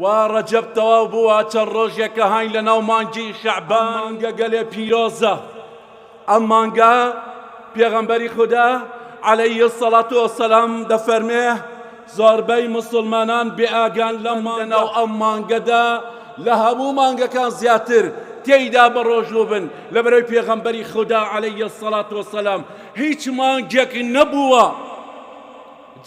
وا ڕەجەب تەواو بووە چەند ڕۆژێکە هاین لە ناو مانگی شەعبان مانگە گەلێ پیرۆزە ئەم مانگە پێغەمبەری خوددا عەلەیە سەڵات و سەلام دەفەرمێ زۆربەی مسلمانان بێئاگان لەم مانگە و ئەم مانگەدا لە هەموو مانگەکان زیاتر تێیدا بەڕۆژوو بن لە بەرەوی پێغەمبەری خوددا عەلەیە سەڵات و سەلام هیچ مانگێک نەبووە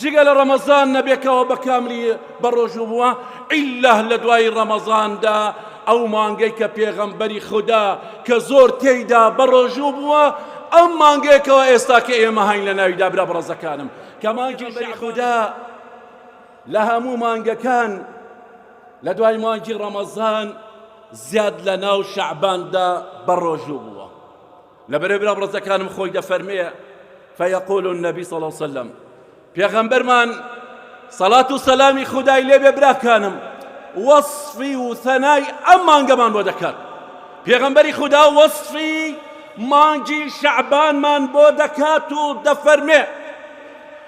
جگە لە ڕەمەزان نەبێ کەوا بە کاملی بەڕۆژوو بووە، ئیللا لە دوای ڕەمەزاندا ئەو مانگەی کە پێغەمبەری خودا کە زۆر تێیدا بەڕۆژوو بووە، ئەم مانگەیە کەوا ئێستا کە ئێمە هاین لە ناویدا برا بەڕێزەکانم کە مانگی شەعبانە، پێغەمبەری خودا لە هەموو مانگەکان لە دوای مانگی ڕەمەزان زیاد لە ناو شەعباندا بەڕۆژوو بووە. لەبەرەی برا بڕەزەکانم خۆی دەفەرمێ فیقول النبی صلی الله وسلم پێغەمبەرمان سەڵات و سەلامی خودای لێبێ براکانم وەصفی و ثەنای ئەم مانگەمان بۆ دەکات پێغەمبەری خدا وەصفی مانگی شەعبانمان بۆ دەکات و دەفەرمێ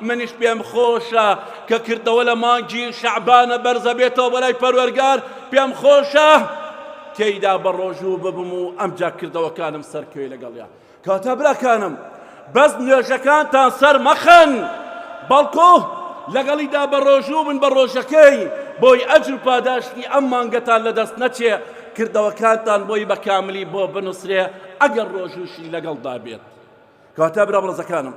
منیش پێم خۆشە کە کردەوە لە مانگی شەعبانە بەرزە بێتەوە بۆ لای پەروەرگار پێم خۆشە تێیدا بە ڕۆژوو ببم و ئەمجا کردەوەکانم سەرکەوێ لەگەڵیا کاتە براکانم بەس نوێژەکانتان سەر مەخەن بەڵکۆ لەگەڵیدا بە ڕۆژوو بن بە ڕۆژەکەی بۆی ئەجر و پاداشتی ئەم مانگەتان لەدەست نەچێ کردەوەکانتان بۆی بە کاملی بۆ بنووسرێ ئەگەر ڕۆژووشی لەگەڵدا بێت کاتە برا بڕزەکانم